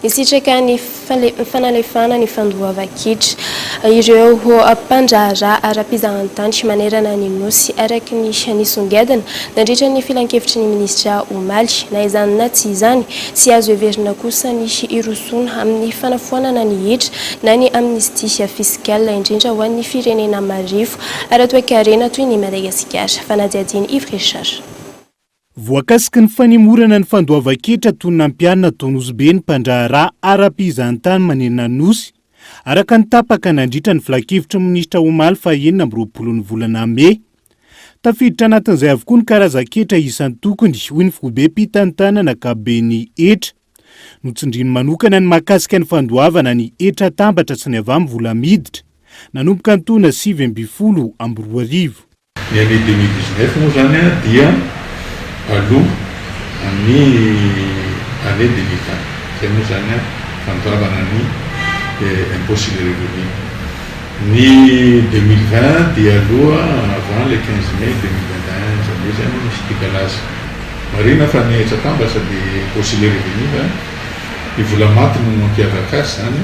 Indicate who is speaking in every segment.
Speaker 1: Nisitraka ny fanalefahana ny fandoavan-kitra ireo mpandraharaha ara-pizahantany manerana ny Nosy, araka ny nisongadina nandritra ny filankevitry ny minisitra omaly. Na izany na tsy izany, tsy azo heverina kosa ny hirosoana amin'ny fanafoanana ny hetra na ny amnistie fiscale, indrindra ho an'ny firenena marefo ara-toekarena toy ny Madagasikara. Fanadihadian'i Yves Richard.
Speaker 2: Voakasiky ny fanemorana ny fandoavan-ketra toy ny nampianina tao Nosy-Be ny mpandraharaha ara-pihizan-tany manenina ny Nosy, araka ny tapaka nandritra ny filankevitry ny minisitra omaly fahaenina amby roapolo ny volana mey. Tafiditra anatin'izay avokoa ny karazan-ketra isan-tokony, hoy ny foibem-pitantanana ankapoben'ny hetra. Notsindriany manokana ny mahakasika ny fandoavana ny hetra atambatra sy ny avambo vola miditra, nanomboka ny taona sivy ambin'ny folo amby roa arivo.
Speaker 3: Ny année deux mille dix neuf moa izany dia aloha amin'ny année deux mille vingt. Izay moa izany fandravana ny impôt sur le revenu. Ny deux mille vingt dia aloha avant le quinze mai deux mille vingt et un, izany hoe izany misy décalage. Marina fa ny hetsa-pambatra dia impôt sur le revenu fa ny vola maty no mampiavaka azy izany.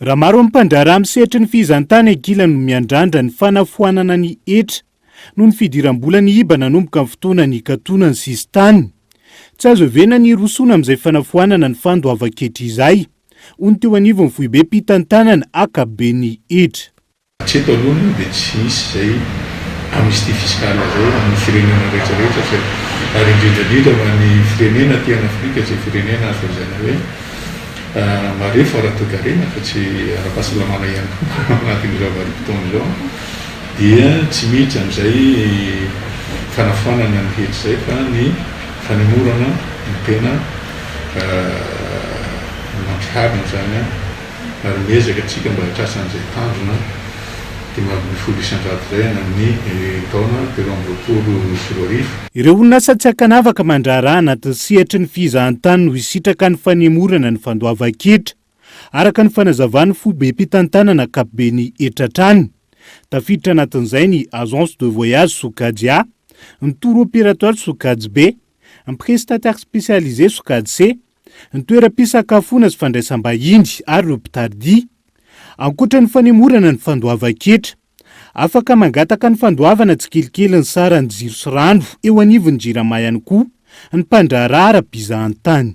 Speaker 3: Raha maro
Speaker 2: ny mpandraharaha amin'ny sehatry ny fihizan-tany ankilany no miandrandra ny fanafoanana ny hetra noho ny fidiram-bola ny iba nanomboka ny fotoana nikatona ny sisintany, tsy azo heverina ny hirosoana amin'izay fanafoanana ny fandoavan-ketra izay, hoy ny teo anivon'ny foibe mpitantanana ankapoben'ny hetra. Hatreto aloha moa
Speaker 3: dia tsy misy izay amnistie fiscale izay ho an'ny firenena rehetra rehetra fa ary indrindra indrindra ho an'ny firenena aty an Afrika izay firenena azo lazaina hoe marefo ara-toekarena fa tsy ara-pahasalamana ihany koa ao anatin'izao vanim-potoana izao dia tsy miditra amin'izay fanafoanana ny hetra izay fa ny fanemorana no tena mampiharina izany ary miezaka tsika mba hiatrasa an'izay tanjona dimy ambin'ny folo isan-jato izay any amin'ny
Speaker 2: taona telo amby roapolo sy roa arivo. Ireo orinasa tsy ankanavaka mandraharaha anatin'ny sehatry ny fizahantany no hisitraka ny fanemorana ny fandoavan-ketra, araka ny fanazavan'ny foibem-pitantanana ankapoben'ny hetra hatrany. Tafiditra anatin'izay ny Agence de voyage Sokajy A, ny Tour Opérateur Sokajy B, ny Prestataire Spécialisé Sokajy C, ny toeram-pisakafoana sy fandraisam-bahiny ary ireo mpitardia. Ankoatra ny fanemorana ny fandoavan-ketra, afaka mangataka ny fandoavana tsikelikely ny saran'ny jiro sy rano eo anivon'ny Jirama ihany koa ny mpandraharaha ara-pizahan-tany.